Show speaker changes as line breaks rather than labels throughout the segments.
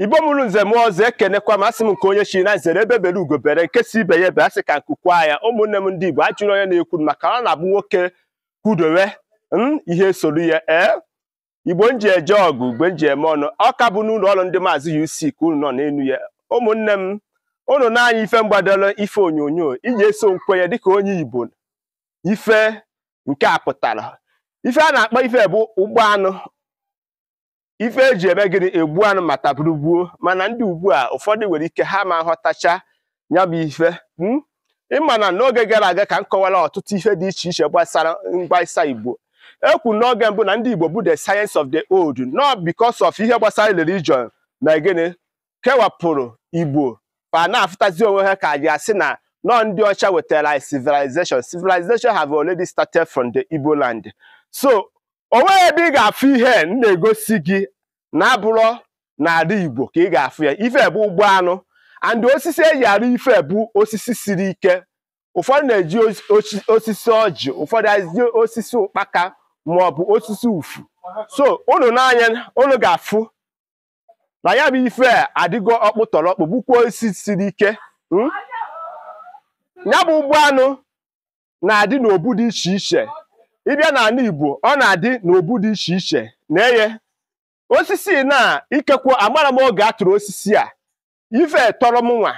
igbo mụrụ nze mụọ ọzọ ekenekwa m asị m nke onye chiri nya zere egbe bere ugo bere nke sị ibe ya ebena sị ka nku kwaa ya ụmụnne m ndị igbo ajụrụ onye na-ekwu maka ọ na-abụ nwoke kwudowe m ihe esoro ya ee igbo m ji eje ọgụ igbo m ji eme ọnụ ọ ka bụ n'ụlọ ọrụ ndị maazị UC ka unu nọ n'elu ya ụmụnne m unu nee anya ife m gbadoro ife onyonyo iji eso nkwenye dịka onye igbo ife nke a pụtara ife a na-akpọ ife a bụ ụgbọ anụ ife eji eme gịnị egbu anụ ma taa bụrụ gboo mana ndị ugbu a ụfọdụ nwere ike ha ama aghọtacha ya bụ ife hmm? ịma na n'oge gara aga ka m kọwara ọtụtụ ihe dị iche iche gbasara mgbaisa igbo ekwu n'oge mbụ na ndị igbo bụ the science of the old not because of ihe gbasara religion na gịnị kewapụrụ igbo ma na-afụtazi onwe ha ka e ji asị na ọ ndị ọcha wetara anyị civilization civilization have already started from the igbo land so o nweghị ebe ị ga-afụ ihe m na-egosi gị na-abụrọ n'ala Igbo ka ị ga-afụ ya ife a bụ ụgbọ anụ and osisi eji arụ ife a bụ osisi siri ike ụfọdụ na-eji osisi ọjị ụfọdụ eji osisi ụkpaka maọbụ osisi ufu so unu nee anya unu ga-afụ na ya bụ ife adịgo ọkpụtọrọkpụ bụkwa osisi siri ike hmm? ya bụ ụgbọ anụ na-adị n'obu dị iche iche ị bịa n'ala Igbo ọ na-adị n'obu dị iche iche na eye osisi na ikekwe amara m oge a tụrụ osisi a ife a tọrọ m nwa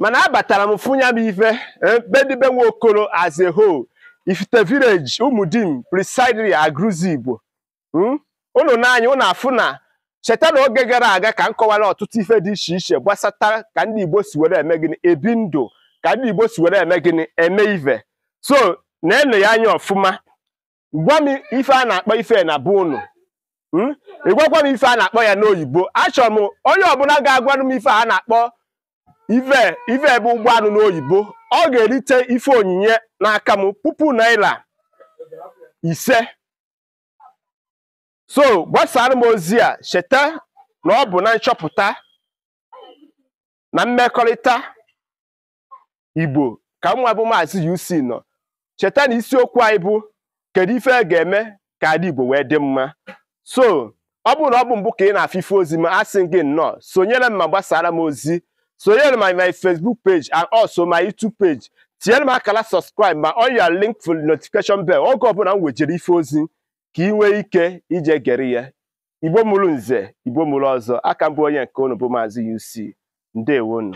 mana abatara m fụ nya bụ ife eh, be ndị be nwa okoro as a whole ifite village ụmụdim precisely Aguluzigbo hmm? unu nee anya unu afụ na cheta na oge gara aga ka m kọwara ọtụtụ ife dị iche iche gbasata ka ndị Igbo si were eme gịnị ebi ndụ ka ndị Igbo si were eme gịnị eme ife so na-ene ya anya ọfụma gwa m ife a na-akpọ ife na be unu hmm? ị gwakwa m ife a na-akpọ ya n'oyibo achọrọ m onye ọbụla ga-agwanụ m ife a na-akpọ ife ife a bụ ụgbọ anụ n'oyibo ọ ga-erite ife onyinye n'aka m puku naira ise so gbasaara m ozi a cheta na ọ bụ na nchọpụta na mmekọrịta igbo ka mụ nwa bụ maazị UC nọ cheta na isiokwu anyị bụ kedu ife a ga-eme ka ala igbo wee dị mma so ọ bụrụ na ọ bụ mbụ ka ị na-afụ ife ozi m asị gị nnọọ sonyere m ma gbasaara m ozi sonyere my my Facebook page and also my YouTube page tinyere m akara subscribe ma on your link for notification bell oge ọbụla m wejere ife ozi ka ị nwee ike ije gere ya igbo mụrụ nze igbo mụrụ ọzọ a ka m bụ onye nke unu bụ maazị UC ndewonu